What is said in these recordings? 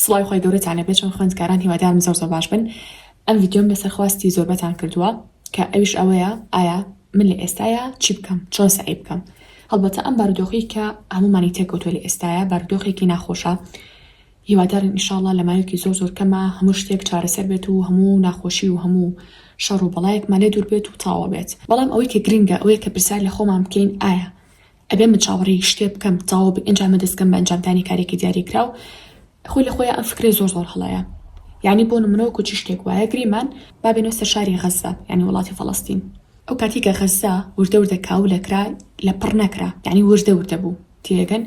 سڵاوی خوای گەورەتان لێ بێت چۆن خوێندکاران هیوادارم زۆر زۆر باش بن ئەم ڤیدیۆم لەسەر خواستی زۆربەتان کردووە کە ئەویش ئەوەیە ئایا من لە ئێستایا چی بکەم چۆن سەعی بکەم هەڵبەتە ئەم بارودۆخی کە هەمومانی تێکەوتوە لە ئێستایا بارودۆخێکی ناخۆشە هیوادارن ئیشاڵە لە ماوەیەکی زۆر زۆر کەمە هەموو شتێک چارەسەر بێت و هەموو ناخۆشی و هەموو شەڕ و بەڵایەکمان لێ دوور بێت و تاوا بێت بەڵام ئەوەی کە گرنگە ئەوەیە کە پرسیار لە خۆمان بکەین ئایا ئەبێ من چاوەڕێی شتێ بکەم تەواو بێ ئەنجامە دەستکەم بە ئەنجامدانی کارێکی دیاری کراو خۆی لە خۆیان ئەم فکرەی زۆر زۆر هەڵەیە یعنی بۆ نمونەوە کوچی شتێک وایە گریمان بابێنەوە سەر شاری غەزە یعنی وڵاتی فەڵەستین ئەو کاتی کە غەزە وردە وردە کاو لەکرا لە پڕ نەکرا یعنی وردە وردە بوو تێگەن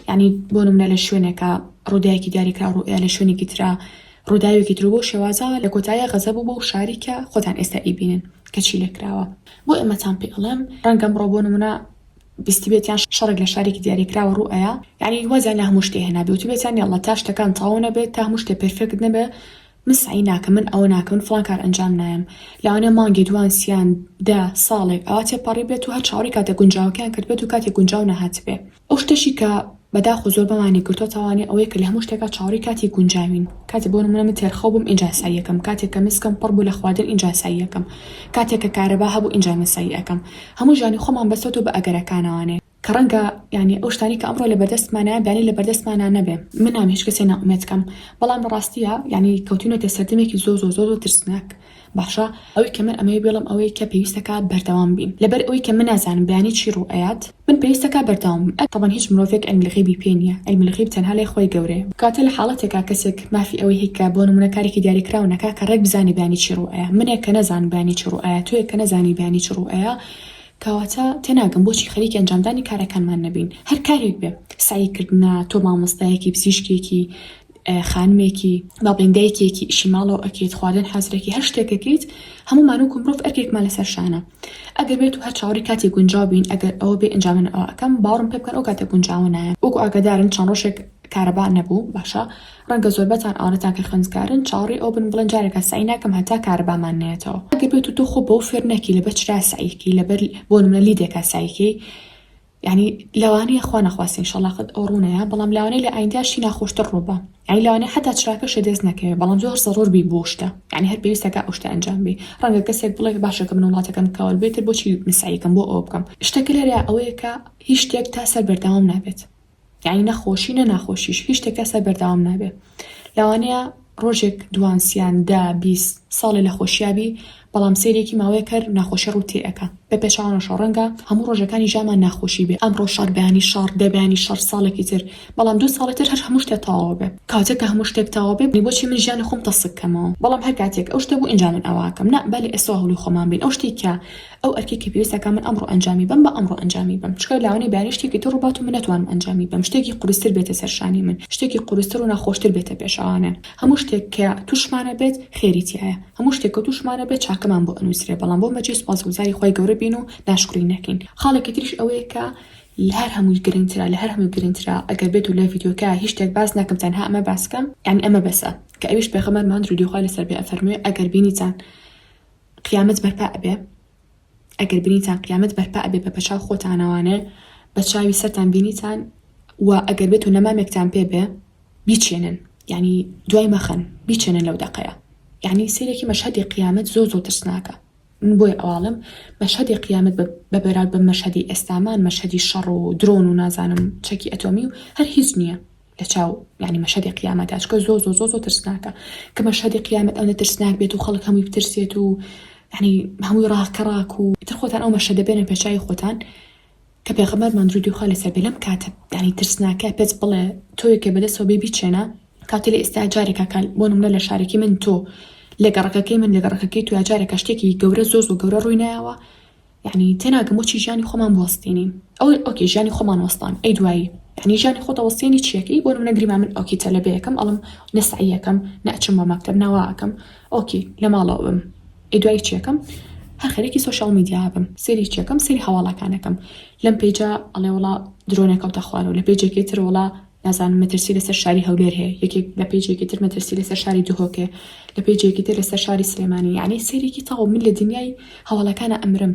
یعنی بۆ نمونە لە شوێنێکە ڕوودایەکی دیاریکرا ڕوئە لە شوێنێکی تررا ڕووداوێکی تر بۆ شێوازە لە کۆتایە غەزە بوو بۆ شاریکە خۆتان ئێستا ئیبینن کەچی لەکراوە بۆ ئێمەتان پێ ئەڵێم ڕەنگەم ڕۆ بۆ نمونە بیستبێت یان شەڕێک لە شارێکی دیاریکراوە ڕوو ئەیا یانی واز یان لە هەموو شتێ هێنا بێ وتبێت یان یەڵڵا تا شتەکان تەواو نەبێت تا هەموو شتێ پێرفێکت نەبێ من سەعی ناکەم من ئەوە ناکەم من فڵان کار ئەنجام نایەم لەوانەیە مانگێ دوان سیان دە ساڵێک ئەوا تێپەڕیبێت و هەر چاوەڕێی کاتە گونجاوەکەیان کردبێت و کاتێ گونجاو نەهاتبێ ئەو شتەشی کە بەداخو زۆر بەمانی گرتوە تاوانی ئەوەیە کە لەهەموو شتێکا چاوەڕێی کاتی گونجاوین کاتێ بۆ نمونە من تێرخەو بووم ئینجا ئسایی ئەکەم کاتێ کە مسکم پڕ بوو لە خواردن ئینجا ئسایی ئەکەم کاتێ کە کارەبا هەبوو ئینجا مسایی ئەکەم هەموو ژیانی خۆمان بەستۆتەوە بە ئەگەرەکانەوانێ کە ڕەنگە یانی ئەو شتانەی کە ئەمڕۆ لەبەردەستمانایە بیانی لەبەردەستمانا نەبێ من ناوێ هیچ کەسێ نائومێد کەم بەڵام ڕاستیە یانی کەوتوینەتە سەردەمێکی زۆر زۆر زۆر زۆر ترسناک. باشە ئەوەی کە من ئەمەوێ بێڵم ئەوەیە کە پێویستە کا بەردەوام بین لەبەر ئەوەی کە من نازانم بەیانی چی ڕوو ئەیات من پێویستە کا بەردەوام بم ئەک تەبەن هیچ مرۆڤێک علم الغیبی پێ نیە علم الغیب تەنها لای خوای گەورەیە کاتێ لە حاڵەتێکا کەسێک مافی ئەوەی هەی کە بۆ نمونە کارێکی دیاری کراو نەکا کە ڕێک بزانێ بەیانی چی ڕوو ئەیا منێ کە نەزانم بەیانی چی ڕوو ئەیا تۆیەک کە نەزانی بەیانی چ ڕوو ئەیا کەواتە تێناگەم بۆچی خەریکی ئەنجامدانی کارەکانمان نەبین هەر کارێک بێ سەعی کردنە تۆ مامۆستایەکی پزیشکێکی خانمێکی با بڵێین دایکێکی ئیشی ماڵەوە ئەکەیت خواردن حەزرەکی هەر شتێک ئەکەیت هەمومان وەکو مرۆڤ ئەرکێکمان لەسەر شانە ئەگەر بێت و هەر چاوەڕی کاتی گونجاو بین ئەگەر ئەوە بێ ئەنجامن ئەوە ئەکەم باوەڕم پێ بکەن ئەو کاتە گونجاوە نایە وەکو ئاگادارن چەند ڕۆژێک کارەبا نەبوو باشە ڕەنگە زۆربەتان ئەوانەتان کە خوێندکارن چاوەڕی ئەو بن بڵێن جارێکە سەعی ناکەم هەتا کارەبامان نایەتەوە ئەگەر بێت و تۆ خۆ بەو فێر نەکی لەبەر چرا سەعیکەی لەبەر بۆ نمونە لیدێکا سەعیکەی یانی لەوانەیە خوا نەخواستە ان شاءاللە قەت ئەو ڕوونەیە بەڵام لەوانەیە لە ئایندە شتی ناخۆشتر ڕووبا یانی لەوانەیە حتا چراکە شێ دەست نەکەوێت بەڵام زۆر زەڕۆر بی بۆ شتە یانی هەر پێویستەکە ئەو شتە ئەنجام بی ڕەنگە کەسێک بڵێ باشە کە من وڵاتەکەم کەوەر بێتر بۆچی مسعیکەم بۆ ئەوە بکەم شتەکە لێرە ئەوەیە کە هیچ شتێک تا سەر بەردەوام نابێت یانی نە خۆشی نە ناخۆشیش هیچ شتێکە سەر بەرداوام نابێ لەوانەیە ڕۆژێک دوانسیان دا بیست ساڵێ لە خۆشیابی بەڵام سێرێکی ماوەیە کەر ناخۆشی ڕووتی ئەەکە بە پێچوانەشە ڕەنگە هەموو ڕۆژەکانی ژامان ناخۆشی بێ ئەم ڕۆژار بەیانی شار دەبیانی شەر ساڵێکی تر بەڵام دو ساڵی تر هەر هەموو شتێ تەواو بێ کاتێک کە هەموو شتێک تەواو بێ بۆچی من ژیانی خۆم تەسکەمەوە بەڵام هەر کاتێک ئەو شتە بوو ئینجا من ئەوواکەم نا بەل ئێستا هەڵی خۆمان بین ئەو شتێکە ئەو ئەرکەی کە پێویستە کە من ئەمڕۆ ئەنجامی بەم بە ئەمڕۆ ئەنجامی بەم چکە لاوانەی بارەی شتێکی تر ڕووبات و من نەتوانم ئەنجامی بەم شتێکی قورستر بێتە سەر شانی من شتێکی قورستر و ناخۆشتر بێتە پێشەوانێ هەموو شتێک کە تووشمانە بێت خێری تیایە هەموو شتێک کە تووشمانە بێت چاکەمان بۆ ئەنووسرێ بەڵام بۆ مەجێ سوپاسگوزاری خوای گەورە بین و ناشکری نەکەین خاڵێکی تریش ئەوەیە کە لە هەر هەمووی گرنگترە لە هەر هەمووی گرنگترە ئەگەر بێت و لە ڤیدیۆکە هیچ شتێک باس نەکەم تەنها ئەمە باس کەم یعنی ئەمە بەسە کە ئەویش پێغەمبەرمان درودی خوای لەسەر بێ ئەفەرموێ ئەگەر بینیتان قیامەت بەرپا ئەبێ ئەگەر بینیتان قیامەت بەرپا ئەبێ بە بەچاو خۆتانەوانێ بە چاوی سەرتان بینیتان و ئەگەر بێت و نەمامێکتان پێ بێ بیچێنن یعنی دوای مەخەن بیچێنن لەو دەقەیە یعنی سیرێکی مەشهدی قیامەت زۆ زۆ ترسناکە من بۆی ئەواڵم مەشهدی قیامەت بە بەراود بە مەشهدی ئێستامان مەشهدی شەڕ و درۆن و نازانم چەکی ئەتۆمی و هەر هیچ نییە لە چاو یعنی مەشهەدی قیامەتا چکە زۆ زۆ زۆ زۆ ترسناکە کە مەشهەدی قیامەت ئەونە ترسناک بێت و خەڵک هەمووی بترسێت و یعنی هەمووی ڕاکە ڕاک و تر خۆتان ئەو مەشهەدە بێنە پێچوی خۆتان کە پێغەمەر مەندرودی خوا لەسەر بێ لەم کاتە دانی ترسناکە پێت بڵێ تۆی کە بەدەسەوە بێ بیچێنە کاتی لە ئێستا جارێکە کال بۆ نمونە لە شارێکی من تۆ لە گەڕەکەکەی من لە گەڕەکەکەی تو جارێکە شتێکی گەورە زۆ زۆ گەورە ڕووی نایەوە یەعنی تێناگەم بۆچی ژیانی خۆمان بوەستێنین ئەو ئۆکێ ژیانی خۆمان وەستان ئەی دوایی یەعنی ژیانی خۆت ئەوەستێنی چیەکەی بۆ نمونە گریمان من ئۆکی تەلەبەیەکەم ئەڵم نە سەعیەکەم نە ئەچم بۆ مەکتەب نە وا ئەکەم ئۆکی لە ماڵەوە بم ئەی دوایی چیەکەم هەر خەریکی سۆشیاڵ میدیا بم سێری چیەکەم سێری هەواڵەکانەکەم لەم پێیجە ئەڵێ وڵا درۆ نەکەوتە خوارەوە لە پێیجێکی تر وڵا نازانم مەترسی لەسەر شاری هەولێر هەیە یەکێک لە پێیجێکی تر مەترسی لەسەر شاری دهۆک هەیە لە پێیجێکی تر لەسەر شاری سلێمانی یعنی سەیرێکی تەواو من لە دنیای هەواڵەکانە ئەمرم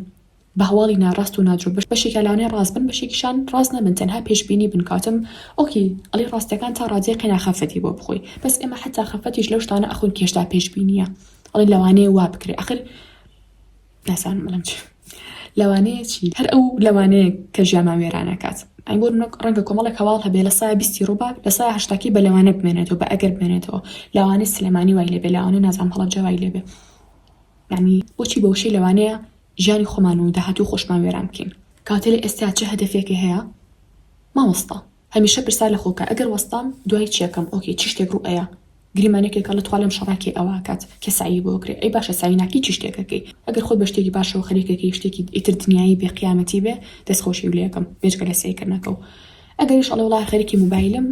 بە هەواڵی ناڕاست و نادرۆ بەش بەشێکە لەوانەیە ڕاست بن بەشێکیشان ڕاست نەبن تەنها پێشبینی بن کاتم ئۆکی ئەڵی ڕاستەکان تا ڕادەیە قەنا خەفەتی بۆ بخۆی بەس ئێمە حتا خەفەتیش لەو شتانە ئەخۆین کێشدا پێشبینیە ئەڵی لەوانەیە وا بکرێ ئەخر نازانم بڵێم چی لەوانەیە چی هەر ئەو لەوانەیە کە ژیانمان وێرانەکات ئەی بۆ نەک ڕەنگە کۆمەڵێک هەواڵ هەبێ لە سایە بیستی ڕووبا لە سایە هەشتاکی بە لەوانە بمێنێتەوە بە ئەگەر بمێنێتەوە لەوانەی سلێمانی وای لێبێ لەوانەی نازان هەڵە جەوای لێبێ یعنی بۆچی بەوشەی لەوانەیە ژیانی خۆمان و داهاتوو خۆشمان وێران بکەین کاتێ لە ئێستا چه هەدەفێکی هەیە مامۆستا هەمیشە پرسار لە خۆکە ئەگەر وەستام دوای چیەکەم ئۆکەی چ شتێک ڕوو ئەیا گریمانەکێکە لە تخوا لەم شەڕا کێ ئەوە ئەکات کێ سەعیی بۆ ئەکرێ ئەی باشە سەعی ناکەی چی شتێک ئەکەی ئەگەر خۆت بە شتێکی باشەوە خەریکەکەی شتێکی ئیتر دنیایی بێ قیامەتی بێ دەست خۆشی و لەیەکەم بێجگە لە سەیکردنەکەو ئەگەریش ئەڵێ وەڵا خەریکی موبایلم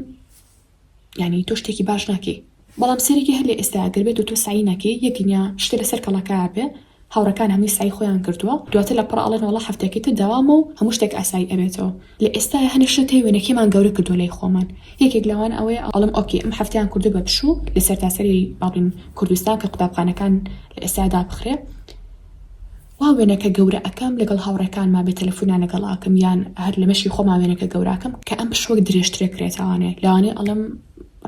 یانی تۆ شتێکی باش ناکەی بەڵام سەیرەکی هەر لە ئێستا ئەگەر بێت و تۆ سەعی نەکەی یەک دنیا شتێ لەسەر کەڵەکە ئەبێ هاوڕێکان هەمووی سەعی خۆیان کردووە دواتر لە پڕ ئەڵێن وەڵا هەفتەیەکی تر دەوامە و هەموو شتێک ئاسایی ئەبێتەوە لە ئێستایە هەنێ شتە تێ وێنەکێمان گەورە کردووە لای خۆمان یەکێک لەوان ئەوەیە ئەڵێم ئۆکەی ئەم هەفتەیان کردووە بە پشوو لە سەرتاسەری با بڵێین کوردستان کە قوتابخانەکان لە ئێستا دابخرێ وا وێنەکە گەورە ئەکەم لەگەڵ هاوڕێکانما بێ تەلەفونان لەگەڵ ئاکەم یان هەر لە مەشی خۆما وێنەکە گەوراکەم کە ئەم پشوەک درێژترێ کرێتاوانێ لەوانێ ئەڵێم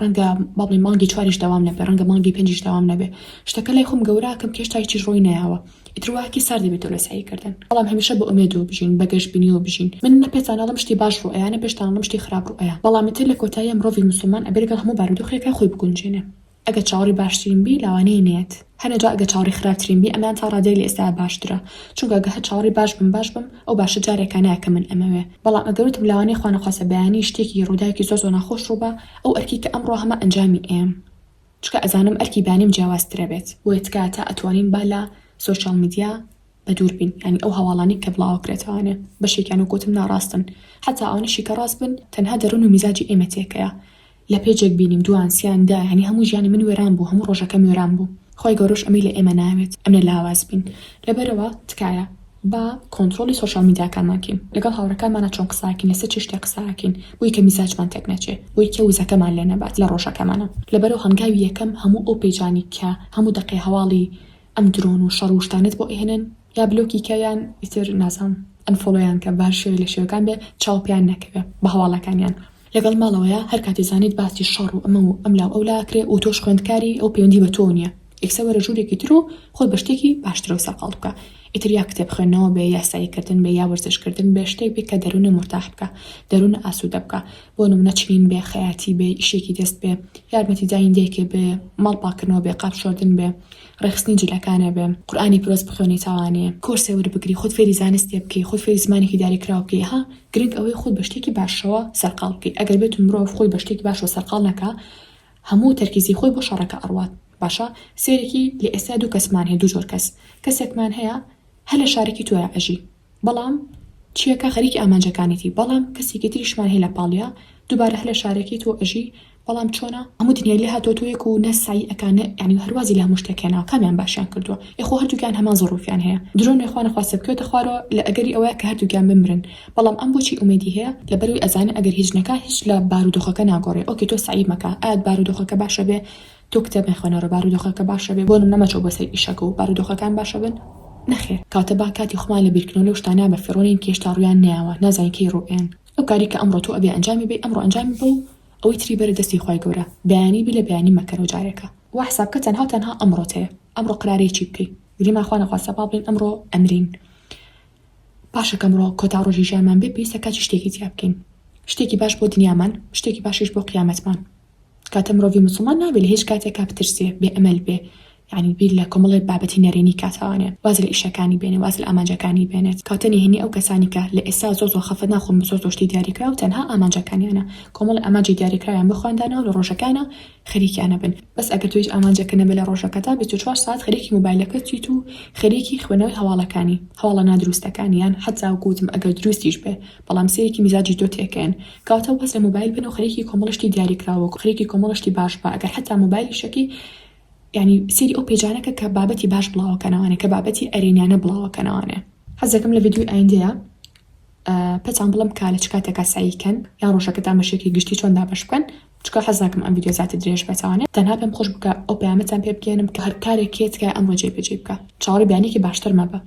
ڕەنگە بابڵێ مانگی چواریش داوام نەبێ ڕەنگە مانگی پێنجیش داوام نەبێ شتەکە لای خۆم گەوراکەم کێشتا هیچیش ڕۆی نایەوە ئیترواکی سار دەبێتەوە لە سەعیکردن بەڵام هەمیشە بە ئومێدەوە بژین بە گەشبینیەوە بژین من نە پێتانەڵم شتی باش ڕوئەیە نە پێشتانڵم شتی خراپ ڕوئەیە بەڵام ئیتر لە کۆتاییا مرۆڤی موسڵمان ئەبێ لەگەڵ هەموو بارودۆخێکا خۆی بگونجێنێ ئەگەر چاوەڕی باشترین بی لاوانەیە نەیەت هەنێ جا ئەگەر چاوەڕێی خراپترین بی ئەمەیان تا ڕادەیەک لە ئێستایا باشترە چونکە ئەگەر هەر چاوەڕێی باش بم باش بم ئەو باشە جارێکا نایە کە من ئەمەوێ بەڵام ئەگەر وتم لەوانەیە خوا نەخواستە بەیانی شتێکی ڕووداوێکی زۆر زۆر ناخۆش ڕووبا ئەو ئەرکی کە ئەمڕۆ هەمە ئەنجامی ئەیەم چونکە ئەزانم ئەرکی بەیانیم جیاوازترەبێت بۆیە تکایە تا ئەتوانین با لە سۆشیاڵ میدیا بە دووربین یانی ئەو هەواڵانەی کە بڵاوەکرێتەوانێ بەشێکیان وەک وتم ناڕاستن حەتا ئەوانەشی کە ڕاست بن تەنها دەرون و میزاجی ئێمە تێکەیا لە پێجێک بینیم دوان سیان دا یانی هەموو ژیانی من وێران بوو هەموو ڕۆژەکەم وێران بوو خوای گەورەش ئەمەی لە ئێمە ناوێت ئەمنە لاواز بین لەبەرەوە تکایە با کۆنتڕۆڵی سۆشیال میدیاکانمان کەین لەگەڵ هاوڕێکانمانا چۆن قساکین لەسەر چی شتێک قساکین بۆی کە میزاجمان تێک نەچێ بۆی کە وزەکەمان لێ نەبات لە ڕۆژەکەمانا لەبەرەو هەنگاوی یەکەم هەموو ئەو پێجانی کە هەموو دەقەی هەواڵی ئەم درۆن و شەڕ و شتانەت بۆ ئەهێنن یا بلۆکی کە یان ئیتر نازانم ئەنفۆڵۆیان کە بەهەر شێوەی لە شێوەکان بێ چاو پێیان نەکەوێ بە هەواڵەکانیان لەگەڵ ماڵەوەیە هەر کاتێ زانیت باسی شەڕ و ئەمە و ئەملاو ئەولا ئەکرێ و تۆش خوێندکاری ئەو پەیوەندی بە تۆو نیە یەکسەر وەرە ژورێکی تر و خۆت بە شتێکی باشترەوە سەرقاڵ بکە ئیتر یا کتێب خوێندنەوە بێ یاسایی کردن بێ یا وەرزش کردن بێ شتێک بێ کە دەرونە مورتاح بکا دەرونە ئاسودە بکا بۆ نمونە چنین بێ، خەیاتی بێ، ئیشێکی دەست بێ، یارمەتیدانی دایکێ بێ، ماڵ پاکردنەوە بێ، قاپ شۆردن بێ، ڕێکخستنی جلەکانێ بێ، قورئانی پیرۆز بخوێنی تاوانێ، کۆرسێ وەربگری، خۆت فێری زانستێ بکەی، خۆت فێری زمانێکی داریکراو بکەی، ها گرنگ ئەوەی خۆت بە شتێکی باشەوە سەرقاڵ بکەی، ئەگەر بێتو مرۆڤ خۆی بە شتێکی باشەوە سەرقاڵ نەکا هەموو تەرکیزی خۆی بۆ شەڕەکە ئەڕوات، باشە سەیرێکی لە ئێستا دوو کەسمان هەیە دوو جۆر کەس، کەسێکمان هەیە هەر لە شارەکی تۆیا ئەژی، بەڵام چیەکە خەریکی ئامانجەکانیتی بەڵام کەسێکی تریشمان هەیە لە پاڵیا دوبارە هەر لە شارەکەی تۆ ئەژی بەڵام چۆنە هەموو دنیای لێ هاتۆ تۆیەک و نە سەعی ئەکا نە یانی هەروازی لە هەموو شتێک هێناوە کامیان باشیان کردووە ئێ خۆ هەردووکیان هەمان زەڕوفیان هەیە درۆ نیە خوا نەخواستە بکەوێتە خوارەوە لە ئەگەری ئەوەیە کە هەردووکیان بمرن بەڵام ئەم بۆچی ئومێدی هەیە لەبەرەوەی ئەزانێ ئەگەر هیچ نەکا هیچ لە بارودۆخەکە ناگۆڕێ ئۆکێ تۆ سەعی مەکە ئایت بارودۆخەکە باشە بێ تۆ کتێب مەخوێنەڕە بارودۆخەکە باشە بێ بۆ نمونە مەچۆ بۆ سەر ئیشەکە و بارودۆخەکان باشە بن نەخێر کاتە با کاتی خۆمان لە بیرکردنەوە لەو شتانە بە فیڕۆنین کە هێشتا ڕویان نەیاوە نازانین کەی ڕوئەیەن ئەو کاری کە ئەمڕۆ تۆ ئەبێ ئەنجامی بەی ئەمڕۆ ئەنجامی بە و ئەوەی تری بەرە دەستی خوای گەورە بەیانی بی لە بەیانی مەکەرەوە جارێکە وا حساب کە تەنها و تەنها ئەمڕۆت هەیە ئەمڕۆ قرارەی چی بکەی گریمان خوا نەخواستە با بڵین ئەمڕۆ ئەمرین باشە کەمڕۆ کۆتا ڕۆژی ژیانمان بێ پێویستە کاتی شتێکی تیا بکەین شتێکی باش بۆ دنیامان شتێکی باشیش بۆ قیامەتمان کاتە مرۆڤی موسڵمان نابێ لە هیچ کاتێکا بترسێ بێ ئەمەل بێ یعنی بیر لە کۆمەڵێ بابەتی نەرێنی کاتەوانێ واز لە ئیشەکانی بێنێ واز لە ئامانجەکانی بێنێت کاتە نهێنی ئەو کەسانی کە لە ئێستا زۆر زۆر خەفەت ناخۆن بە زۆر زۆر شتی دیاریکراو تەنها ئامانجەکانیانە کۆمەڵێ ئامانجی دیاریکراویان بۆ خۆیان داناوە لە ڕۆژەکانا خەریکیانە بن بەس ئەگەر تۆ هیچ ئامانجێکە نەبێ لە ڕۆژەکەتا بیست و چوار سەعات خەریکی مۆبایلەکەت چیت و خەریکی خوێنەوەی هەواڵەکانی هەواڵە نادروستەکانی یان حەتاوەکو وتم ئەگەر دروستیش بێ بەڵام سەیرێکی میزاجی تۆ تێکەیەن کەواتە واز لە مۆبایل بێنەو خەریکی کۆمەڵە شتی دیاریکراوەکە خەریکی کۆمەڵە شتی باش بە ئەگەر حەتا مۆبایلیشەکی یعنی سەیری ئەو پێجانەکە کە بابەتی باش بڵاوەکەنەوانێ کە بابەتی ئەرێنیانە بڵاوەکەنەوانێ حەزەکەم لە ڤیدیۆی ئایندەیە پێتان بڵم کا لە چ کاتێکا سعیکەن یان ڕۆژەکە تامەشێکی گشتی چۆن دابش بکەن چکە حەزناکەم ئەم ڤیدیۆ زیاتر درێژ بێتوانێت تەنها پێم خۆش بکە ئەو پەیامەتان پێ بگەێنم کە هەر کارێکێت کە ئەمڕۆ جێبەجێ بکە چاوەڕی بیانێکی باشتر مەبە